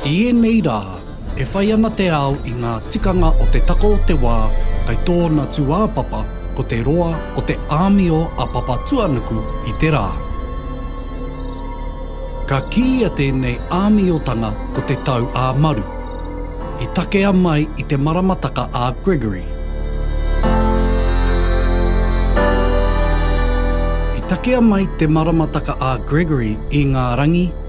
I ēnei rā, E whai ana te ao i ngā tikanga o te tako o te wā, kei tōna tūāpapa ko te roa o te āmio a Papatuanuku i te rā. Ka kīia tēnei āmiotanga ko te tau ā Maru, i takea mai i te maramataka ā Gregory. I takea mai te maramataka ā Gregory i ngā rangi,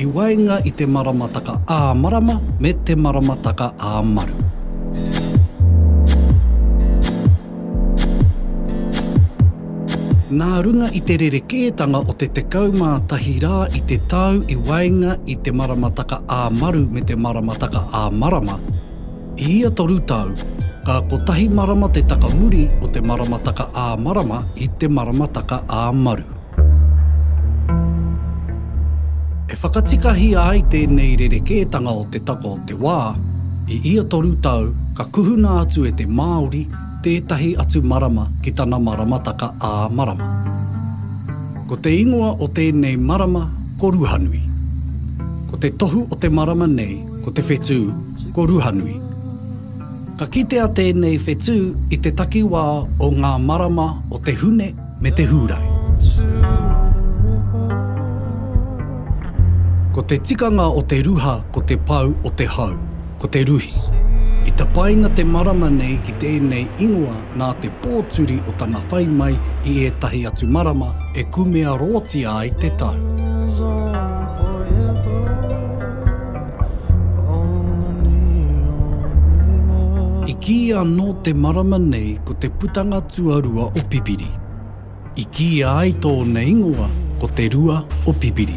I waenga i te maramataka ā marama me te maramataka ā maru. Nā runga i te rerekētanga o te 11 rā i te tau i waenga i te maramataka ā maru me te maramataka ā marama, i ia toru tau, ka kotahi marama te taka muri o te maramataka ā marama i te maramataka ā maru. E whakatikahia ai tēnei rerekētanga o te taka o te wā, i ia toru tau ka kuhuna atu e te Māori tētahi atu marama ki tana maramataka ā-marama. Ko te ingoa o tēnei marama ko Ruhanui. Ko te tohu o te marama nei ko te whetū ko Ruhanui. Ka kitea tēnei whetū i te takiwā o ngā marama o te Hune, me te Hūrai. Ko te tikanga o te ruha ko te pau o te hau, ko te ruhi. I tapaina te marama nei ki tēnei ingoa nā te pōturi o tana whai mai i ētahi atu marama e kumearoatia ai te tau. I kīia anō te marama nei ko te putanga tuarua o Pipiri. I kīia ai tōna ingoa ko Te Rua o Pipiri.